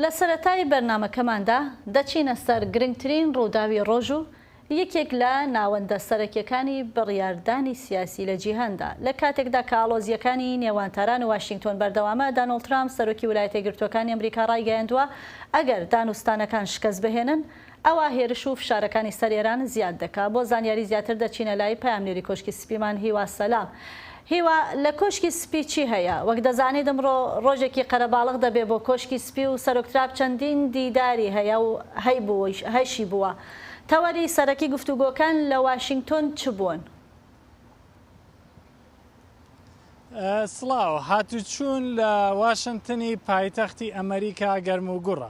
لە سەرەتای بەرنامەکەماندا دەچینە سەر گرنگترین ڕووداوی ڕۆژ و یەکێک لە ناوەندە سەرەکییەکانی بڕیاردانی سیاسی لە جیهاندا. لە کاتێکدا کە ئاڵۆزییەکانی نێوان تاران و واشینگتۆن بەردەوامە، دانۆڵد ترامپ، سەرۆکی ولایەتە یەکگرتووەکانی ئەمریکا ڕایگەیاندووە، ئەگەر دانوستانەکان شکست بهێنن، ئەوا هێرش و فشارەکانی سەر ئێران زیاد دەکا. بۆ زانیاری زیاتر دەچینە لای پەیامنێری کۆشکی سپیمان هیوا سەلام. هیوا، لە کۆشکی سپی چی هەیە؟ وەک دەزانیت ئمڕۆ ڕۆژێکی قەرەباڵغ دەبێ بۆ کۆشکی سپی و سەرۆک تراب چەندین دیداری هەیە و هەیبوویش، هەشی بووە. تەوەری سەرەکی گفتوگۆکان لە واشینگتۆن چ بوون؟ سڵاو، هاتوچوون لە واشنتنی پایتەختی ئەمەریکا گەرموگوڕە.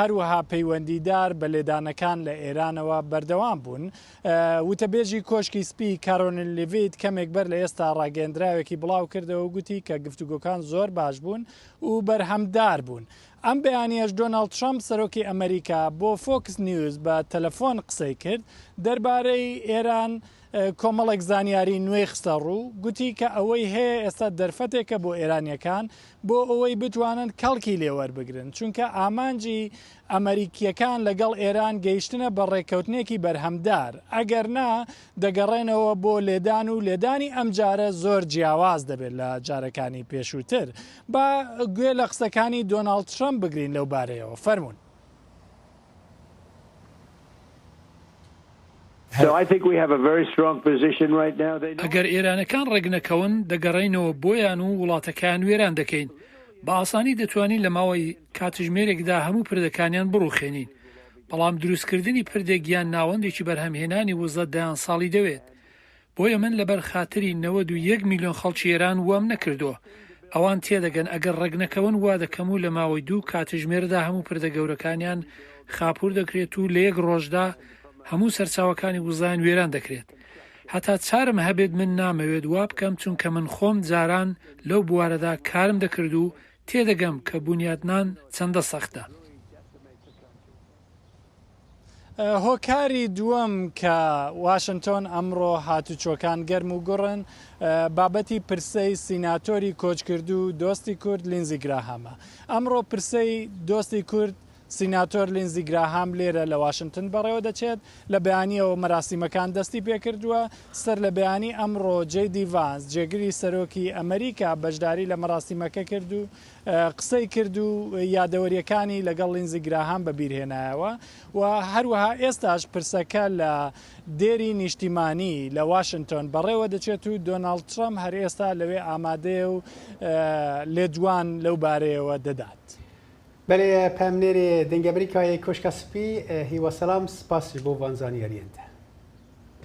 هەروەها پەیوەندیدار بە لێدانەکان لە ئێرانەوە بەردەوام بوون. وتەبێژی کۆشکی سپی کارۆنل لیڤیت کەمێک بەر لە ئێستا ڕاگەندراوێکی بڵاو کردەوە گوتی کە گفتوگۆکان زۆر باش بوون و بەرهەمدار بوون. ئەم بەیانیەش دۆناڵد ترەمپ سەرۆکی ئەمەریکا بۆ فۆکس نیوز بە تەلەفۆن قسەی کرد دەربارەی ئێران کۆمەڵێک زانیاری نوێی خستەڕوو، گوتی کە ئەوەی هەیە ئێستا دەرفەتێکە بۆ ئێرانییەکان بۆ ئەوەی بتوانن کەڵکی لێ وەربگرن، چونکە ئامانجی ئەمەریکییەکان لەگەڵ ئێران گەیشتنە بە ڕێککەوتنێکی بەرهەمدار، ئەگەرنا دەگەڕێنەوە بۆ لێدان و لێدانی ئەمجارە زۆر جیاواز دەبێت لە جارەکانی پێشووتر. با گوێ لە قسەکانی دۆناڵد ترەمپ بگرین لەو بارەیەوە، فەرموون. ئەگەر ئێرانەکان ڕێکنەکەون دەگەڕێینەوە بۆیان و وڵاتەکەیان وێران دەکەین، بە ئاسانی دەتوانین لە ماوەی کاتژمێرێکدا هەموو پردەکانیان بڕوخێنین، بەڵام دروستکردنی پردێک یان ناوەندێکی بەرهەمهێنانی وزە دەیان ساڵی دەوێت، بۆیە من لەبەر خاتری نەوەد و یەک ملیۆن خەڵکی ئێران وام نەکردووە. ئەوان تێدەگەن ئەگەر ڕێکنەکەون وا دەکەم و لە ماوەی دوو کاتژمێردا هەموو پردە گەورەکانیان خاپوور دەکرێت و لە یەک ڕۆژدا هەموو سەرچاوەکانی وزەیان وێران دەکرێت. هەتا چارم هەبێت من نامەوێت وا بکەم چونکە من خۆم جاران لەو بوارەدا کارم دەکرد و تێدەگەم کە بونیاتنان چەندە سەختە. هۆکاری دووەم کە واشنتۆن ئەمڕۆ هاتوچۆکان گەرم و گوڕن بابەتی پرسەی سیناتۆری کۆچکردو دۆستی کورد لینزی گراهامە ئەمڕۆ پرسەی دۆستی کورد سیناتۆر لینزی گراهام لێرە لە واشنتن بەڕێوە دەچێت لە بەیانیەوە مەراسیمەکان دەستی پێکردووە سەر لە بەیانی ئەمڕۆ جێ دیڤانس جێگری سەرۆکی ئەمریکا بەشداری لە مەراسیمەکە کرد و قسەی کرد و یادەوەرییەکانی لەگەڵ لینزی گراهام بەبیرهێنایەوە و هەروەها ئێستاش پرسەکە لە دێری نیشتیمانی لە واشنتۆن بەڕێوەدەچێت و دۆناڵد ترەمپ هەر ئێستا لەوێ ئامادەیە و لێدوان لەو بارەیەوە دەدات. بەێ پەمنێرێ دەنگەبری کایەی کۆشکا سپی هیوا سەلام سپاس بۆ ڤان زانیاریەنتە.